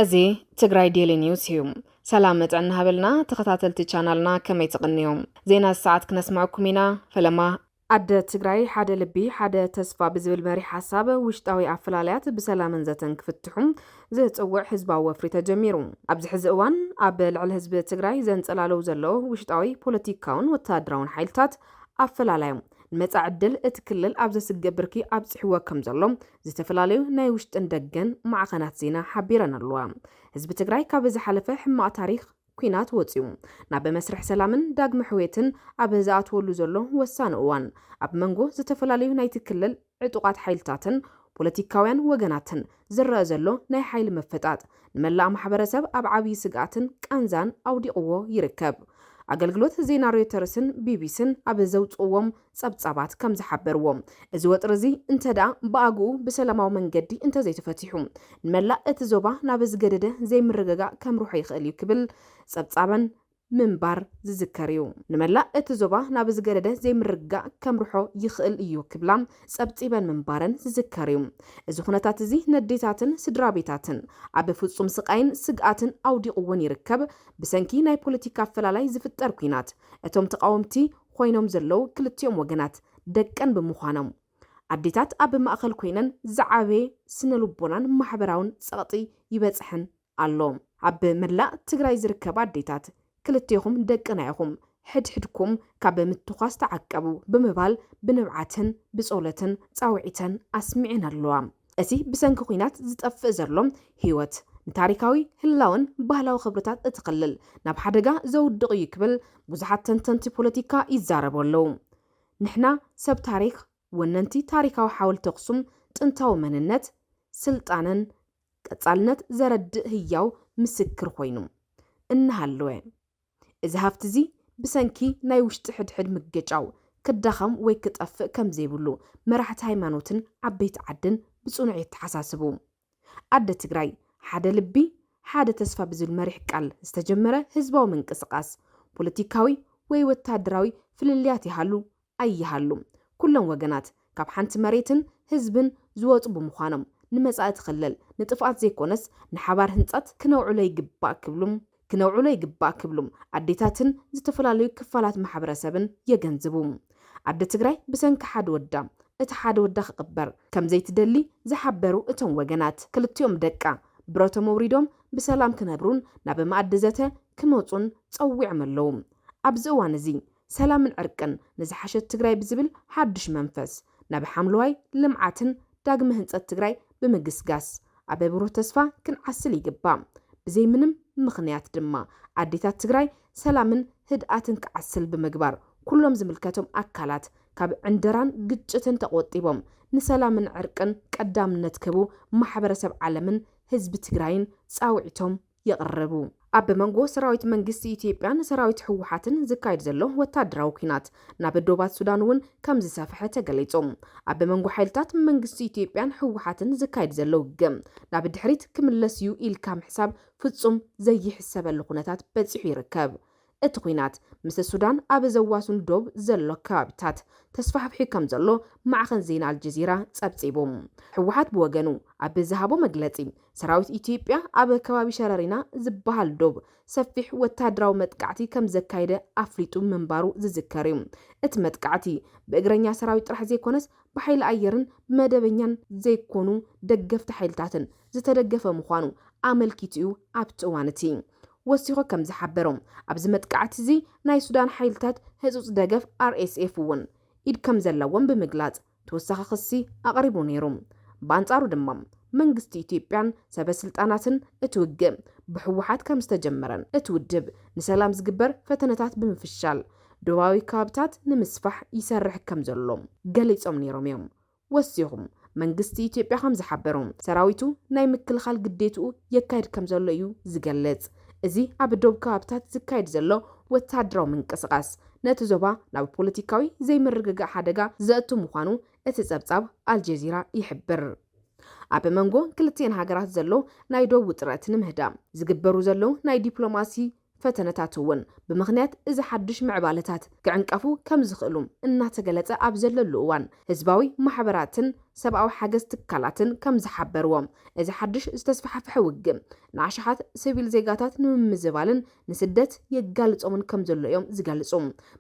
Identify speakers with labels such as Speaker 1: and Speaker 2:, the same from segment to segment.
Speaker 1: እዚ ትግራይ ዴሊ ኒውስ እዩ። ሰላም መጠን ሃበልና ተኸታተልቲ ቻናልና ከመይ ትቕንዩ? ዜና ሰዓት ክነስምዐኩም ኢና። ፈለማ ኣደ ትግራይ ሓደ ልቢ ሓደ ተስፋ ብዝብል መሪሕ ሓሳብ ውሽጣዊ ኣፈላላያት ብሰላምን ዘተን ክፍትሑ ዝፅውዕ ህዝባዊ ወፍሪ ተጀሚሩ። ኣብዚ ሕዚ እዋን ኣብ ልዕሊ ህዝቢ ትግራይ ዘንፀላልው ዘሎ ውሽጣዊ ፖለቲካውን ወታደራውን ሓይልታት ኣፈላላዮም ንመፃኢ ዕድል እቲ ክልል ኣብ ዘስግእ ብርኪ ኣብፂሕዎ ከም ዘሎ ዝተፈላለዩ ናይ ውሽጥን ደገን ማዕኸናት ዜና ሓቢረን ኣለዋ። ህዝቢ ትግራይ ካብ ዝሓለፈ ሕማቕ ታሪኽ ኲናት ወጺኡ ናብ መስርሕ ሰላምን ዳግመ ሕውየትን ኣብ ዝኣትወሉ ዘሎ ወሳኒ እዋን፣ ኣብ መንጎ ዝተፈላለዩ ናይቲ ክልል ዕጡቓት ሓይልታትን ፖለቲካውያን ወገናትን ዝረኣ ዘሎ ናይ ሓይሊ ምፍጣጥ፣ ንመላእ ማሕበረሰብ ኣብ ዓብዪ ስግኣትን ቃንዛን ኣውዲቕዎ ይርከብ። ኣገልግሎት ዜና ሮይተርስን ቢቢሲን ኣብ ዘውጽእዎም ጸብጻባት ከም ዝሓበርዎ፣ እዚ ወጥሪ እዚ እንተድኣ ብኣግኡ ብሰላማዊ መንገዲ እንተዘይተፈቲሑ፣ ንመላእ እቲ ዞባ ናብ ዝገደደ ዘይምርግጋእ ከምርሖ ይኽእል እዩ ክብል ጸብጻበን ምንባር ዝዝከር እዩ። ንመላእ እቲ ዞባ ናብ ዝገደደ ዘይምርግጋእ ከምርሖ ይኽእል እዩ ክብላ ጸብጺበን ምንባረን ዝዝከር እዩ። እዚ ኩነታት እዚ ነዴታትን ስድራቤታትን ኣብ ፍጹም ስቓይን ስግኣትን ኣውዲቕወን ይርከብ፣ ብሰንኪ ናይ ፖለቲካ ኣፈላላይ ዝፍጠር ኲናት እቶም ተቓወምቲ ኾይኖም ዘለዉ ክልቲኦም ወገናት ደቀን ብምዃኖም፣ ኣዴታት ኣብ ማእኸል ኮይነን ዝዓበየ ስነልቦናን ማሕበራውን ፀቕጢ ይበፅሐን ኣሎ። ኣብ መላእ ትግራይ ዝርከባ ኣዴታት ክልቴኹም ደቅና ኢኹም፣ ሕድሕድኩም ካብ ምትኳስ ተዓቀቡ ብምባል ብንብዓትን ብፆሎትን ፃውዒተን ኣስሚዐን ኣለዋ። እቲ ብሰንኪ ኲናት ዝጠፍእ ዘሎ ህይወት፣ ንታሪካዊ፣ ህላወን ባህላዊ ክብርታት እቲ ክልል ናብ ሓደጋ ዘውድቕ እዩ ክብል ብዙሓት ተንተንቲ ፖለቲካ ይዛረቡ ኣለዉ። ንሕና ሰብ ታሪኽ፣ ወነንቲ ታሪካዊ ሓወልቲ ኣኽሱም ጥንታዊ መንነት፣ ስልጣነን ቀጻልነት ዘረድእ ህያው ምስክር ኮይኑ እናሃለወ፣ እዚ ሃፍቲ'ዚ ብሰንኪ ናይ ውሽጢ ሕድሕድ ምግጫው ክዳኸም ወይ ክጠፍእ ከም ዘይብሉ መራሕቲ ሃይማኖትን ዓበይቲ ዓድን ብጽኑዕ የተሓሳስቡ። ኣደ ትግራይ፣ ሓደ ልቢ፣ ሓደ ተስፋ ብዝብል መሪሕ ቃል ዝተጀመረ ህዝባዊ ምንቅስቓስ፣ ፖለቲካዊ ወይ ወተሃደራዊ ፍልልያት ይሃሉ ኣይሃሉ ኩሎም ወገናት ካብ ሓንቲ መሬትን ህዝብን ዝወጹ ብምዃኖም ንመጻኢ ትኽልል ንጥፍኣት ዘይኮነስ ንሓባር ህንጸት ክነውዕሎ ይግባእ ክብሉ ክነውዕሎ ይግባእ ክብሉ ኣዴታትን ዝተፈላለዩ ክፋላት ማሕበረሰብን የገንዝቡ። ኣደ ትግራይ ብሰንኪ ሓደ ወዳ እቲ ሓደ ወዳ ክቕበር ከምዘይትደሊ ዝሓበሩ እቶም ወገናት ክልቲኦም ደቃ ብረቶም ኣውሪዶም ብሰላም ክነብሩን ናብ መኣዲ ዘተ ክመጹን ጸዊዖም ኣለዉ። ኣብዚ እዋን እዚ ሰላምን ዕርቅን ንዝሓሸት ትግራይ ብዝብል ሓዱሽ መንፈስ፣ ናብ ሓምለዋይ ልምዓትን ዳግመ ህንፀት ትግራይ ብምግስጋስ ኣብ ብሩህ ተስፋ ክንዓስል ይግባእ። ብዘይ ምንም ምኽንያት ድማ ኣዴታት ትግራይ ሰላምን ህድኣትን ክዓስል ብምግባር ኩሎም ዝምልከቶም ኣካላት ካብ ዕንደራን ግጭትን ተቖጢቦም ንሰላምን ዕርቅን ቀዳምነት ክህቡ ማሕበረሰብ ዓለምን ህዝቢ ትግራይን ፃውዒቶም የቕርቡ። ኣብ መንጎ ሰራዊት መንግስቲ ኢትዮጵያን ሰራዊት ህወሓትን ዝካየድ ዘሎ ወታደራዊ ኲናት ናብ ዶባት ሱዳን'ውን ከምዝሰፍሐ ተገሊፁ። ኣብ መንጎ ሓይልታት መንግስቲ ኢትዮጵያን ህወሓትን ዝካየድ ዘሎ ውግእ ናብ ድሕሪት ክምለስ'ዩ ኢልካ ምሕሳብ ፍፁም ዘይሕሰበሉ ኩነታት በፂሑ ይርከብ እቲ ኲናት ምስ ሱዳን ኣብ ዘዋስኑ ዶብ ዘሎ ከባቢታት ተስፋሕፊሑ ከምዘሎ ማዕኸን ዜና ኣልጀዚራ ፀብፂቡ። ህወሓት ብወገኑ ኣብ ዝሃቦ መግለፂ ሰራዊት ኢትዮጵያ ኣብ ከባቢ ሸረሪና ዝበሃል ዶብ ሰፊሕ ወታደራዊ መጥቃዕቲ ከምዘካየደ ኣፍሊጡ ምንባሩ ዝዝከር እዩ። እቲ መጥቃዕቲ ብእግረኛ ሰራዊት ጥራሕ ዘይኮነስ ብሓይሊ ኣየርን ብመደበኛን ዘይኮኑ ደገፍቲ ሓይልታትን ዝተደገፈ ምዃኑ ኣመልኪቱ እዩ ኣብቲ እዋን እቲ ወሲኹ ከም ዝሓበሮ፣ ኣብዚ መጥቃዕቲ'ዚ ናይ ሱዳን ሓይልታት ህጹጽ ደገፍ፣ RSF፣ እውን ኢድ ከም ዘለዎም ብምግላጽ ተወሳኺ ክሲ ኣቕሪቡ ነይሩ። ብኣንጻሩ ድማ መንግስቲ ኢትዮጵያን ሰበ ስልጣናትን እቲ ውግእ ብህወሓት ከም ዝተጀመረን እቲ ውድብ ንሰላም ዝግበር ፈተነታት ብምፍሻል ዶባዊ ከባብታት ንምስፋሕ ይሰርሕ ከም ዘሎ ገሊጾም ነይሮም እዮም። ወሲኹ መንግስቲ ኢትዮጵያ ከም ዝሓበሮ፣ ሰራዊቱ ናይ ምክልኻል ግዴትኡ የካይድ ከም ዘሎ እዩ ዝገልጽ። እዚ ኣብ ዶብ ከባብታት ዝካየድ ዘሎ ወተሃደራዊ ምንቅስቓስ፣ ነቲ ዞባ ናብ ፖለቲካዊ ዘይምርግጋእ ሓደጋ ዘእቱ ምዃኑ እቲ ጸብጻብ ኣልጀዚራ ይሕብር። ኣብ መንጎ ክልቲኤን ሃገራት ዘሎ ናይ ዶብ ውጥረት ንምህዳእ ዝግበሩ ዘለዉ ናይ ዲፕሎማሲ ፈተነታት እውን ብምኽንያት እዚ ሓድሽ ምዕባለታት ክዕንቀፉ ከምዝኽእሉ እናተገለፀ ኣብ ዘለሉ እዋን ህዝባዊ ማሕበራትን ሰብኣዊ ሓገዝ ትካላትን ከምዝሓበርዎ እዚ ሓድሽ ዝተስፋሕፈሐ ውግእ ንኣሽሓት ስቪል ዜጋታት ንምምዝባልን ንስደት የጋልፆምን ከምዘሎ እዮም ዝገልፁ።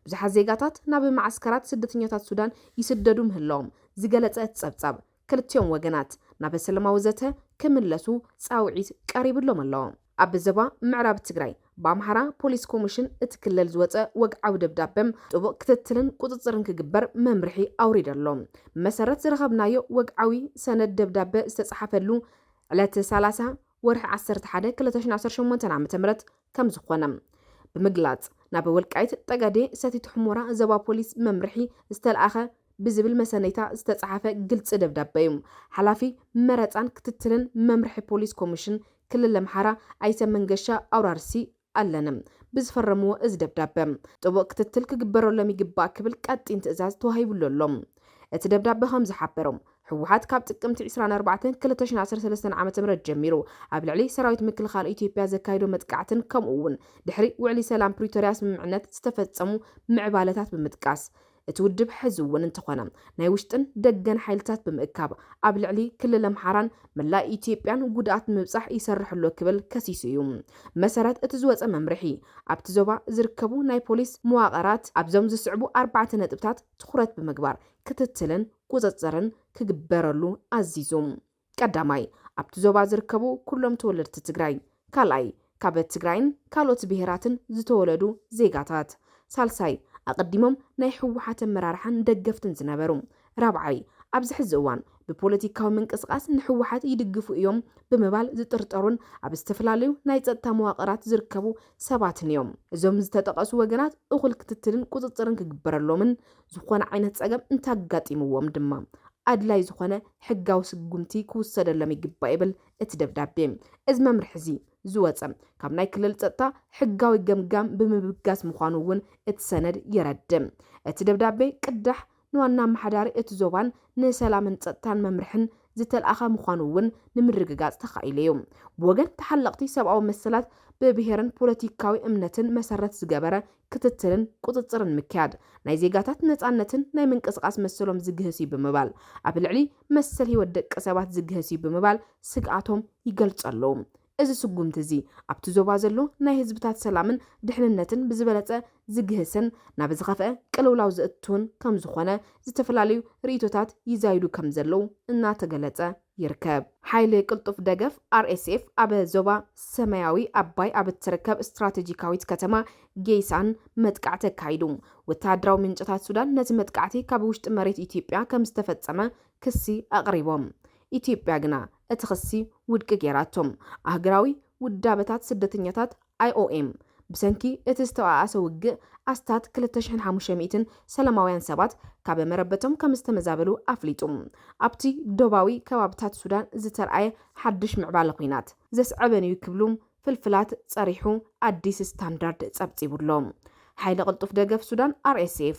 Speaker 1: ብዙሓት ዜጋታት ናብ መዓስከራት ስደተኛታት ሱዳን ይስደዱ ምህላዎም ዝገለፀ እቲ ፀብፃብ ክልቲኦም ወገናት ናብ ሰለማዊ ዘተ ክምለሱ ፃውዒት ቀሪብሎም ኣሎ። ኣብ ዞባ ምዕራብ ትግራይ ብኣምሓራ ፖሊስ ኮሚሽን እቲ ክልል ዝወፀ ወግዓዊ ደብዳበ ጥቡቕ ክትትልን ቁፅፅርን ክግበር መምርሒ ኣውሪደ ኣሎ። ብመሰረት ዝረኸብናዮ ወግዓዊ ሰነድ ደብዳበ ዝተፅሓፈሉ ዕለት ሰላሳ ወርሒ ዓሰርተ ሓደ ክልተ ሽሕን ዓሰርተ ሸሞንተን ዓመተ ምህረት ከምዝኾነ ብምግላፅ ናብ ወልቃይት ጠገዴ ሰቲት ሑሞራ ዞባ ፖሊስ መምርሒ ዝተልኣኸ ብዝብል መሰነይታ ዝተፅሓፈ ግልፂ ደብዳበ ዩ። ሓላፊ መረፃን ክትትልን መምርሒ ፖሊስ ኮሚሽን ክልል ኣምሓራ ኣይተ መንገሻ ኣውራርሲ ኣለነ ብዝፈረምዎ እዚ ደብዳበ ጥቡቕ ክትትል ክግበረሎም ይግባእ ክብል ቀጢን ትእዛዝ ተዋሂብሉ ኣሎ። እቲ ደብዳበ ከም ዝሓበሮ፣ ህወሓት ካብ ጥቅምቲ ዕስራን ኣርባዕተን ክልተ ሽሕን ዓሰርተ ሰለስተን ዓመተ ምህረት ጀሚሩ ኣብ ልዕሊ ሰራዊት ምክልኻል ኢትዮጵያ ዘካይዶ መጥቃዕትን ከምኡ እውን ድሕሪ ውዕሊ ሰላም ፕሪቶርያ ስምምዕነት ዝተፈፀሙ ምዕባለታት ብምጥቃስ እቲ ውድብ ሕዚ እውን እንተኾነ ናይ ውሽጥን ደገን ሓይልታት ብምእካብ ኣብ ልዕሊ ክልል ኣምሓራን መላእ ኢትዮጵያን ጉድኣት ንምብፃሕ ይሰርሕ ኣሎ ክብል ከሲሱ እዩ። ብመሰረት እቲ ዝወፀ መምርሒ ኣብቲ ዞባ ዝርከቡ ናይ ፖሊስ መዋቕራት ኣብዞም ዝስዕቡ ኣርባዕተ ነጥብታት ትኹረት ብምግባር ክትትልን ቁፅፅርን ክግበረሉ ኣዚዙ። ቀዳማይ፣ ኣብቲ ዞባ ዝርከቡ ኩሎም ተወለድቲ ትግራይ። ካልኣይ፣ ካብ ትግራይን ካልኦት ብሄራትን ዝተወለዱ ዜጋታት። ሳልሳይ፣ ኣቐዲሞም ናይ ህወሓት ኣመራርሓን ደገፍትን ዝነበሩ። ራብዓይ፣ ኣብዚ ሕዚ እዋን ብፖለቲካዊ ምንቅስቓስ ንህወሓት ይድግፉ እዮም ብምባል ዝጥርጠሩን ኣብ ዝተፈላለዩ ናይ ፀጥታ መዋቕራት ዝርከቡ ሰባትን እዮም። እዞም ዝተጠቐሱ ወገናት እኹል ክትትልን ቁፅፅርን ክግበረሎምን ዝኾነ ዓይነት ፀገም እንተኣጋጢምዎም ድማ ኣድላይ ዝኾነ ሕጋዊ ስጉምቲ ክውሰደሎም ይግባእ ይብል እቲ ደብዳቤ። እዚ መምርሒ እዚ ዝወፀ ካብ ናይ ክልል ፀጥታ ሕጋዊ ገምጋም ብምብጋስ ምዃኑ እውን እቲ ሰነድ የረድእ። እቲ ደብዳቤ ቅዳሕ ንዋና ኣመሓዳሪ እቲ ዞባን ንሰላምን ፀጥታን መምርሕን ዝተልኣኸ ምዃኑ እውን ንምርግጋፅ ተኻኢሉ እዩ። ብወገን ተሓለቕቲ ሰብኣዊ መሰላት ብብሄርን ፖለቲካዊ እምነትን መሰረት ዝገበረ ክትትልን ቁፅፅርን ምክያድ ናይ ዜጋታት ነፃነትን ናይ ምንቅስቓስ መሰሎም ዝግህስ እዩ ብምባል ኣብ ልዕሊ መሰል ህይወት ደቂ ሰባት ዝግህስ እዩ ብምባል ስግኣቶም ይገልፁ ኣለዉ። እዚ ስጉምቲ እዚ ኣብቲ ዞባ ዘሎ ናይ ህዝብታት ሰላምን ድሕንነትን ብዝበለፀ ዝግህስን ናብ ዝኸፍኣ ቅልውላው ዘእትውን ከምዝኾነ ዝተፈላለዩ ርኢቶታት ይዛይዱ ከምዘለዉ እናተገለፀ ይርከብ። ሓይሊ ቅልጡፍ ደገፍ፣ RSF፣ ኣብ ዞባ ሰማያዊ ኣባይ ኣብ እትርከብ ስትራተጂካዊት ከተማ ጌይሳን መጥቃዕቲ ኣካይዱ። ወተሃደራዊ ምንጭታት ሱዳን ነቲ መጥቃዕቲ ካብ ውሽጢ መሬት ኢትዮጵያ ከም ዝተፈጸመ ክሲ ኣቕሪቦም። ኢትዮጵያ ግና እቲ ክሲ ውድቂ ገይራቶ። ኣህግራዊ ውዳበታት ስደተኛታት፣ IOM፣ ብሰንኪ እቲ ዝተባኣሰ ውግእ ኣስታት ክልተ ሽሕን ሓሙሽተ ሚእትን ሰላማውያን ሰባት ካብ መረበቶም ከም ዝተመዛበሉ ኣፍሊጡ። ኣብቲ ዶባዊ ከባብታት ሱዳን ዝተርኣየ ሓድሽ ምዕባለ ኲናት፣ ዘስዐበን'ዩ ክብሉ ፍልፍላት ጸሪሑ ኣዲስ ስታንዳርድ ጸብጺቡ'ሎ። ሓይሊ ቅልጡፍ ደገፍ ሱዳን፣ RSF፣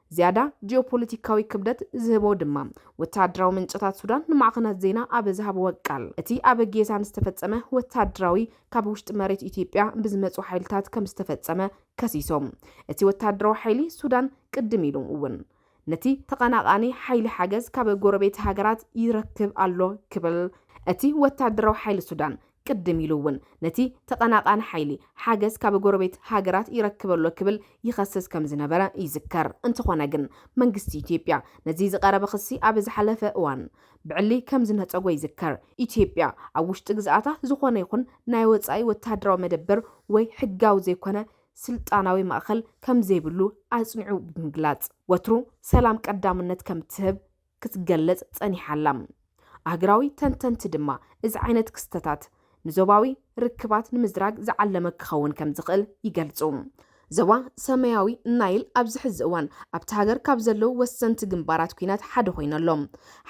Speaker 1: ዝያዳ ጂኦፖለቲካዊ ክብደት ዝህቦ ድማ፣ ወተሃደራዊ ምንጨታት ሱዳን ንማዕኸናት ዜና ኣብ ዝሃብዎ ቃል፣ እቲ ኣብ ጌሳን ዝተፈጸመ ወተሃደራዊ ካብ ውሽጢ መሬት ኢትዮጵያ ብዝመጹ ሓይልታት ከምዝተፈጸመ ከሲሶም። እቲ ወተሃደራዊ ሓይሊ ሱዳን ቅድም ኢሉ እውን ነቲ ተቐናቓኒ ሓይሊ ሓገዝ ካብ ጎረቤት ሃገራት ይረክብ ኣሎ ክብል እቲ ወተሃደራዊ ሓይሊ ሱዳን ቅድም ኢሉ እውን ነቲ ተቐናቓኒ ሓይሊ ሓገዝ ካብ ጎረቤት ሃገራት ይረክብ'ሎ ክብል ይኸስስ ከም ዝነበረ ይዝከር። እንተኾነ ግን መንግስቲ ኢትዮጵያ ነዚ ዝቐረበ ክሲ ኣብ ዝሓለፈ እዋን ብዕሊ ከም ዝነጸጎ ይዝከር። ኢትዮጵያ ኣብ ውሽጢ ግዝኣታ ዝኾነ ይኹን ናይ ወጻኢ ወተሃደራዊ መደበር ወይ ሕጋዊ ዘይኮነ ስልጣናዊ ማእከል ከም ዘይብሉ ኣጽኒዑ ብምግላጽ፣ ወትሩ ሰላም ቀዳምነት ከም እትህብ ክትገለጽ ጸኒሓ ኣላ። ኣህግራዊ ተንተንቲ ድማ እዚ ዓይነት ክስተታት ንዞባዊ ርክባት ንምዝራግ ዝዓለመ ክኸውን ከም ዝኽእል ይገልጹ። ዞባ ሰማያዊ ናይል ኣብዚ ሕዚ እዋን ኣብታ ሃገር ካብ ዘለዉ ወሰንቲ ግንባራት ኲናት ሓደ ኮይኑ ኣሎ።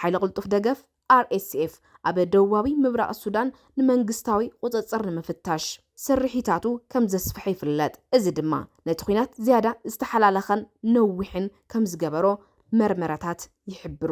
Speaker 1: ሓይሊ ቅልጡፍ ደገፍ፣ RSF፣ ኣብ ደቡባዊ ምብራቕ ሱዳን ንመንግስታዊ ቁጽጽር ንምፍታሽ፣ ስርሒታቱ ከም ዘስፍሐ ይፍለጥ፣ እዚ ድማ ነቲ ኲናት ዝያዳ ዝተሓላለኸን ነዊሕን ከም ዝገበሮ መርመራታት ይሕብሩ።